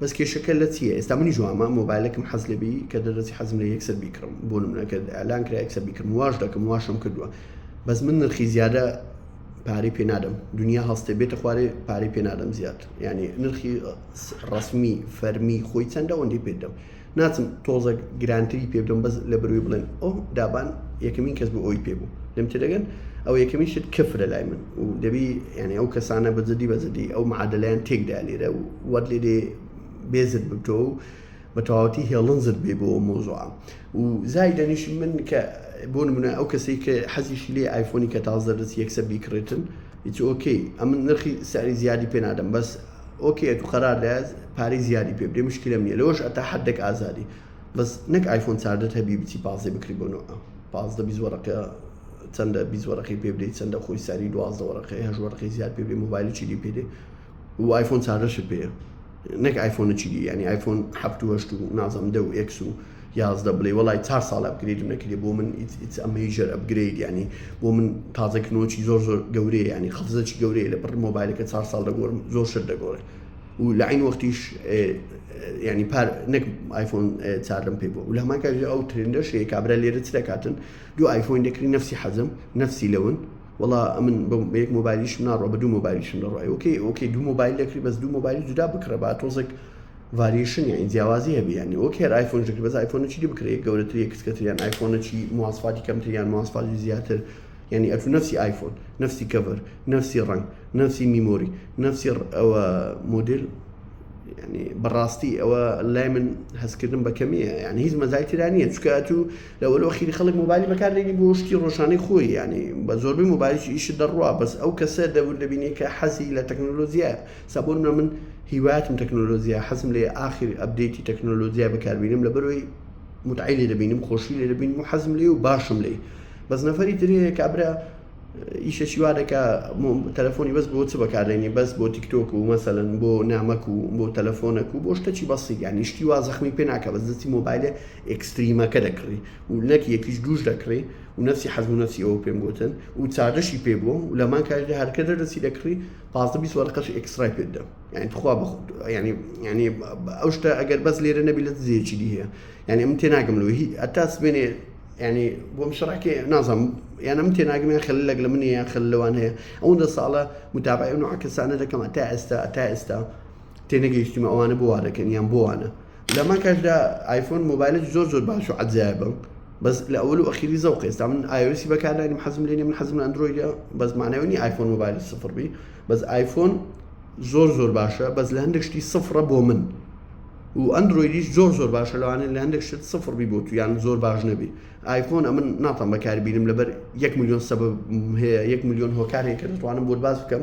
بەس کێشەکە لە چیە ئێستا منیش وامە مۆبایلەکم حەز لێبی کە دەردەچی حەزم لە یەکسەر بیکڕم بۆ نمونە کە ئەلان کرا یەکسەر بیکڕم واش دەکەم واشم کردووە بەس من نرخی زیادە پارەی پێ نادەم دنیا هەستێ بێتە خوارێ پارەی پێ نادەم زیاد ینی نرخی ڕسمی فەرمی خۆی چەندە ئەوەندەی پێ دەم ناچم تۆزەک گرانتری پێ بدەم بەس لە بروی بڵێن ئەو دابان یەکەمین کەس بوو ئەوی پێ بوو لەم تێدەگەن ئەو یەکەمین شت کەفرە لای من و دەبی یعنی ئەو کەسانە بەجددی بەجددی ئەو معادلیان تێکدا لێرە و وەت لێ دێ بێزت ببتۆ و بە تەواوەتی هێڵنزت بێ بۆ مۆزوعام و زایدەنیش من کە بۆ نمونە ئەو کەسێک کە حەزیشی لێ ئایفۆنی کە تازدەرس یەکسەر بیکڕێتن هیچ ئۆکەی ئەمن نرخی ساری زیادی پێ نادەم بەس ئۆکێ تو قەرار دایەس پارەی زیادی پێ بدەی مشکلەم نیە لەوەش ئەتا حەدەک ئازادی بەس نەک ئایفۆن چاردەت هەبی بچی پازدەی بکری بۆ نۆئە پازدە بیست وەرەقە چەندە بیست وەرەقەی پێ بدەی چەندە خۆی ساری دوازدە وەرەقەی هەشت وەرەقەی زیاد پێ بدەی مۆبایلی چی دی پێ دێ و ئایفۆن چاردەشت پێیە نەک ئایفۆنە چی دی یانی ئایفۆن هەفت و هەشت و نازەم دە و ئێکس و یازدە بڵێی وەڵای چار ساڵە ئەپگرەیدم نەکردی بۆ من ئیتس ئە مەیجەر ئەپگرەید یانی بۆ من تازە کردنەوەکی زۆر زۆر گەورەیە یانی قەفزەکی گەورەیە لە بڕ مۆبایلەکە چار ساڵ دەگۆرم زۆر شت دەگۆڕێ و لە عین وەختیش ینی پار نەک آیفۆن چارم پێ بوو لە ماکە ئەو ترندەش هەیە کابرا لێرە چ دەکاتن دوو آیفۆین دەکری نفسی حەزم نفسی لەون وڵا ئەمن بەیەک مۆبایلیشم ناڕۆ بە دوو مۆبایلیشم دەڕایەوەکەی ئۆکەی دوو مۆبایل دەکری بەس دوو مۆبایلی جودا بکڕە با تۆزێک ڤاریشن یانی جیاوازی هەبێ یانی وەک هێر ئایفۆن ژەکری بەس ئایفۆن چی بکرێت گەورەتر یە کچکەتر یان ئایفۆن چی مواسفاتی کەمتر یان مواسفاتی زیاتر یعنی ئەتو نفسی ئایفۆن نفسی کەڤەر نفسی ڕنگ نفسی میمۆری نفسی ئەوە مدل ینی بەڕاستی ئەوە لای من هەستکردن بە کەمیە یان هیچ مەزای تررانە چکە تو لەوەلو خیری خەڵک مۆبایلی بەکاردێنی بۆ شتی ڕۆژانەی خۆی ینی بە زۆربەی مۆبایلش ئیش دەڕوا بەس ئەو کەسە دەور دەبینی کە حەزی لە تەکنۆلۆژیە سا بۆ نمونە من هیوایەتم تەکنۆلۆجیا حەزم لێ ئاخر ئەبدەیتی تەکنۆلۆجیا بەکاربینم لەبەرەوەی متعی لێ دەبینم خۆشی لێ دەبینم و حەزم لێ و باشم لێ بەس نەفەری ترەیە کابرا ئیشەشی وا دەکا تەلەفۆنی بەس بۆ چ بەکارێنی بەس بۆ تیکتۆک و مەسەن بۆ نامەک و بۆ تەلەفۆنەک و بۆ شتەکی بەسی یانی شتی وا زەخمی پێ ناکە بەس دەستی مۆبایلە ئەکستریمەکە دەکڕی و نەک یەکیش دوش دەکڕی و نەسی حەزم نەسی ئەوە پێم گوتن و چاگەشی پێ بووە و لەمان کاریدا هەرکە دەرەسی دەکڕی پازدە بیست وەرەقەشی ئێکسترای پێت دەم یعنی تخوا بە خود ینی ینی ئەو شتە ئەگەر بەس لێرە نەبی لە زیێکی دی هەیە یعنی من تێناگەم لۆ هی ئەتا سمێنێ ینی بۆم شڕاکێ نازم یان من تێناگەم یان خەل لەگە لە منی یان خەل لەوان هەیە ئەوەندە ساڵە متابعی و نوعکەسانە دەکەم تا ئێستا تا ئێستا تێنەگەیشتیمە ئەوانە بۆوارەکەن یان بۆوانە لە ماکاشدا ئایفۆن مۆبایلێکی زۆر زۆر باش و عەجایبە بەس لە ئەول و ئەخیری زەوقە ئێستا من ئایۆسی بەکارداینم حەزم لێ نیە من حەزم لە ئەندرۆیدە بەس مانای ئەوە نیە ئایفۆن مۆبایلی سفر بی بەس ئایفۆن زۆر زۆر باشە بەس لە هەندێک شتی سفرە بۆ من و ئەندرۆیدیش زۆر زۆر باشە لەوانەیە لە هەندێک شت سفر بی بۆ تو یان زۆر باش نەبی ئایفۆن ئەمن ناتان بەکاربینم لەبەر یەک میلیۆن سەبەب هەیە یەک میلیۆن هۆکارێک کە دەتوانم بۆت باس بکەم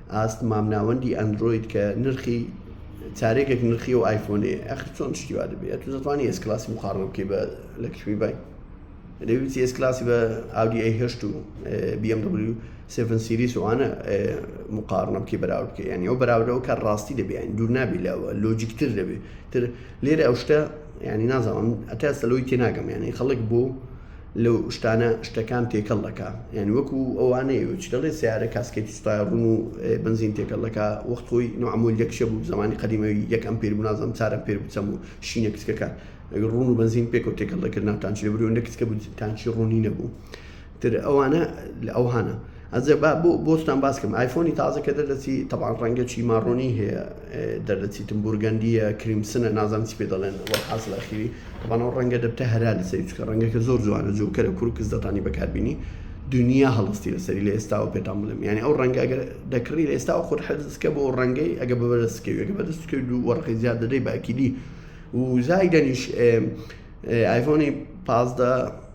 ئاست مامناوەندی ئەندرۆید کە نرخی چارێکێک نرخی و ئایفۆنێ ئەخر چۆن شتی وا دەبێت تو دەتوانانی ئێس کلاسی مخاڕە بکەی بە لە کشمی بای دەویستی ئێس کلاسی بە ئاودی ئەی هەشت و BMW 7 سیریس وانە مقارنە بکەی بەراورد بکەی یعنی ئەو بەراوردەوە کە ڕاستی دەبێت دوور نابی لەوە لۆجیکتر دەبێت تر لێرە ئەو شتە ینی نازانم ئەتا سەلەوەی تێ ناگەم یانی خەڵک بۆ لەو شتانە شتەکان تێکەڵ دەکە یعنی وەکو ئەوانەیە چ دەڵێ سیارە کاسکێتی سوپای ڕون و بنزین تێکەڵ دەکە وەخت خۆی نوعمول یەکشە بوو زمانی قەدیمەوی یەک ئەم پێر بنازم چارم پێر بچەم و شینە کچکەکە ڕون و بنزین پێکەوت تێکەڵ دەکردناتان چ برونە کچکە بتانچی ڕوونی نەبوو. تر ئەوانە لە ئەوهانە. ئەزێ با بۆ بۆستان باس کەم ئایفۆنی تازە کە دەردەچی تەبان ڕەنگە چی ماڕۆنی هەیە دەردەچیتم بورگەندیە کریمسنە نازانم چی پێ دەڵێن حاصل ئەخیری تەبانەوە ڕەنگە دەبتە هەرا لە سەری چکە ڕەنگەکە زۆر جوانە جوکەرە کورکز دەتانی بەکاربینی دنیا هەڵستی لەسەری لە ئێستاوە پێتان بڵێم یعنی ئەو ڕەنگە گەر دەکڕی لە ئێستا خۆت حەزکە بۆ ڕەنگەی ئەگە بەبەرستکەوێگە بەدەستکە دوو وەڕقی زیاد دەدەی باکیدی وزای دەنیش ئایفۆنی پازدە